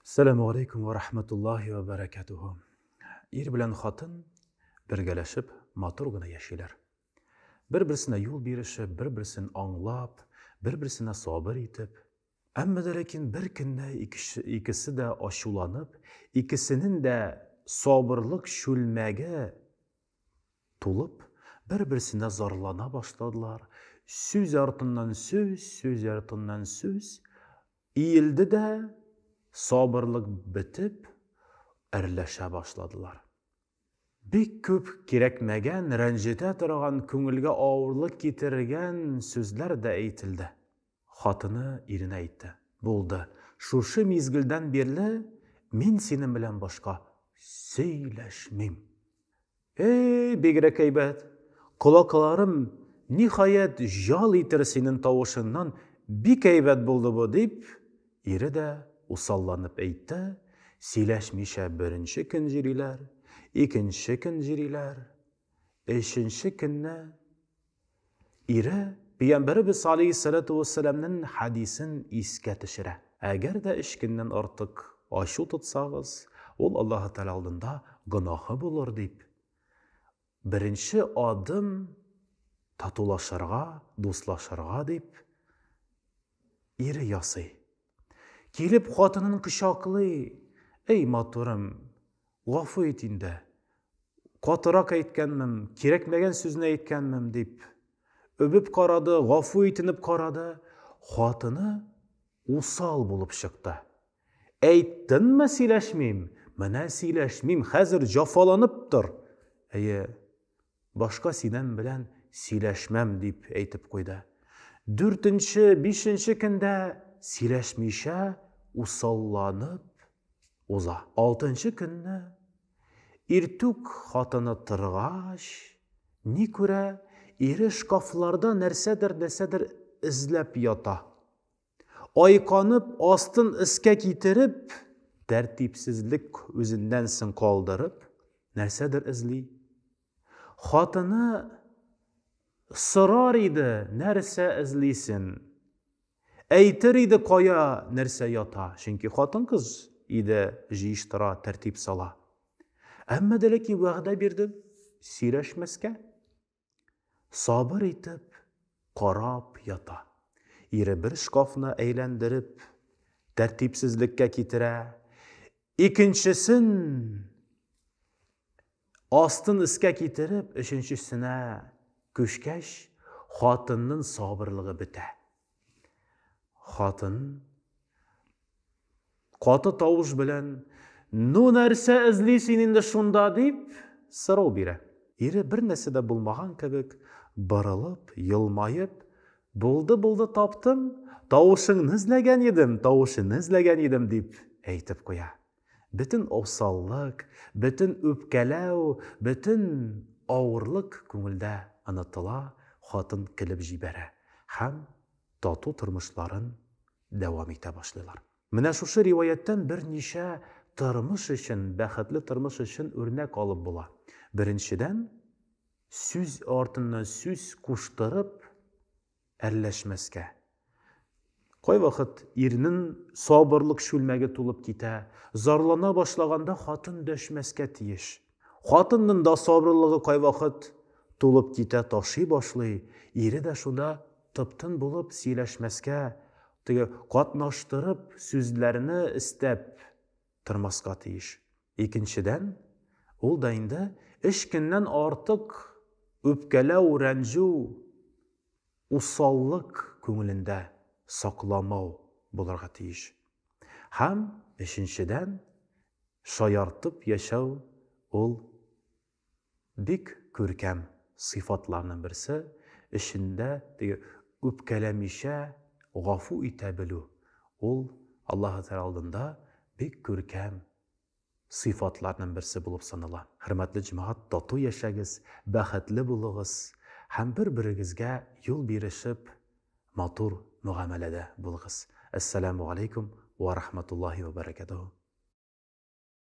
Сәләму алейкум ва рахматуллахи ва баракатуху. Ир белән хатын бергәләшеп матур гына яшиләр. Бер-берсенә юл биреше, бер-берсен аңлап, бер-берсенә сабыр итеп. Әмма дә ләкин бер көнне икесе дә ачуланып, икесенең дә сабырлык чүлмәге тулып, бер-берсенә зарлана башладылар. Сүз артыннан сүз, сүз артыннан сүз. Иелде дә, сабырлык бетеп, әрләшә башладылар. Бик күп кирәкмәгән, рәнҗетә торган, күңелгә авырлык китергән сүзләр дә әйтелде. Хатыны иренә әйтте, Булды, шушы мизгелдән бирле мин синең белән башка сөйләшмим. Эй, бигрәк әйбәт! Колакларым, ниһаять, җал итер синен тавышыннан, бик әйбәт булды бу, дип, ире дә усалланып әйтте, сөйләшмичә беренче көн җөриләр, икенче көн җөриләр, өченче көнне Ире Пәйгамбәребез салейһиссәләтү вәссәламнен хәдисен искә төшерә. Әгәр дә өч көннән артык ачу тотсагыз, ул Аллаһы Тәгалә алдында гөнаһы булыр дип, беренче адым татулашырга, дуслашырга дип, ире ясый. Килеп хатынын кочаклый, Эй, матурым, Гафу ит инде, катырак әйткәнмем, кирәкмәгән сүзне әйткәнмем, дип, өбеп карады, гафу итенеп карады. Хатыны усал булып чыкты. Әйттеңме, сөйләшмим? Менә сөйләшмим, хәзер җафаланып тор. Әйе, Башка синен белән сөйләшмәм, дип әйтеп куйды. Дүртенче, бишенче көндә сөйләшмичә усалланып уза. Алтынчы көнне иртүк хатыны торгач, ни күрә, ире шкафларда нәрсәдер-нәрсәдер эзләп ята. Айканып, астын өскә китереп, тәртипсезлек үзеннән соң калдырып, нәрсәдер эзли. Хатыны сорар иде, нәрсә эзлисен. Әйтер иде, кая нәрсә ята, чөнки хатын-кыз иде җыештыра, тәртип сала. Әмма дә ләкин вәгъдә бирде сөйләшмәскә. Сабыр итеп карап ята. Ире бер шкафны әйләндереп, тәртипсезлеккә китерә. Икенчесен астын өскә китереп, өченчесенә күчкәч, хатынның сабырлыгы бетә. Хатын каты тавыш белән Ну нәрсә эзли син инде шунда дип сорау бирә. Ире бер нәрсә дә булмаган кебек борылып, елмаеп, Булды, булды, таптым, тавышыңны эзләгән идем, тавышыны эзләгән идем дип әйтеп куя. Бөтен осаллык, бөтен үпкәләү, бөтен авырлык күңелдә онытыла, хатын көлеп җибәрә һәм тату тормышларын дәвам итә башлыйлар. Менә шушы риваятьтән берничә тормыш өчен, бәхетле тормыш өчен үрнәк алып була. Беренчедән, сүз артыннан сүз куштырып, әрләшмәскә. Кайвакыт ирнең сабырлык чүлмәге тулып китә, зарлана башлаганда хатын дәшмәскә тиеш. Хатынның да сабырлыгы кайвакыт тулып китә, ташый башлый, ире дә шунда тып-тын булып сөйләшмәскә, теге катнаштырып сүзләрне эстәп, тормаска тиеш. Икенчедән, ул да инде өч көннән артык үпкәләү, рәнҗү, усаллык күңелендә сакламау булырга тиеш. Һәм, өченчедән, шаяртып яшәү ул Бик күркәм сыйфатларның берсе, эшендә теге үпкәләмичә гафу итә белү, ул Аллаһы Тәгалә алдында бик күркәм сыйфатларның берсе булып санала. Хөрмәтле җәмәгать, тату яшәгез, бәхетле булыгыз һәм бер-берегезгә юл бирешеп, матур мөгамәләдә булыгыз. Әссәламү галәйкүм вә рахматуллаһи вә бәрәкәтүһү.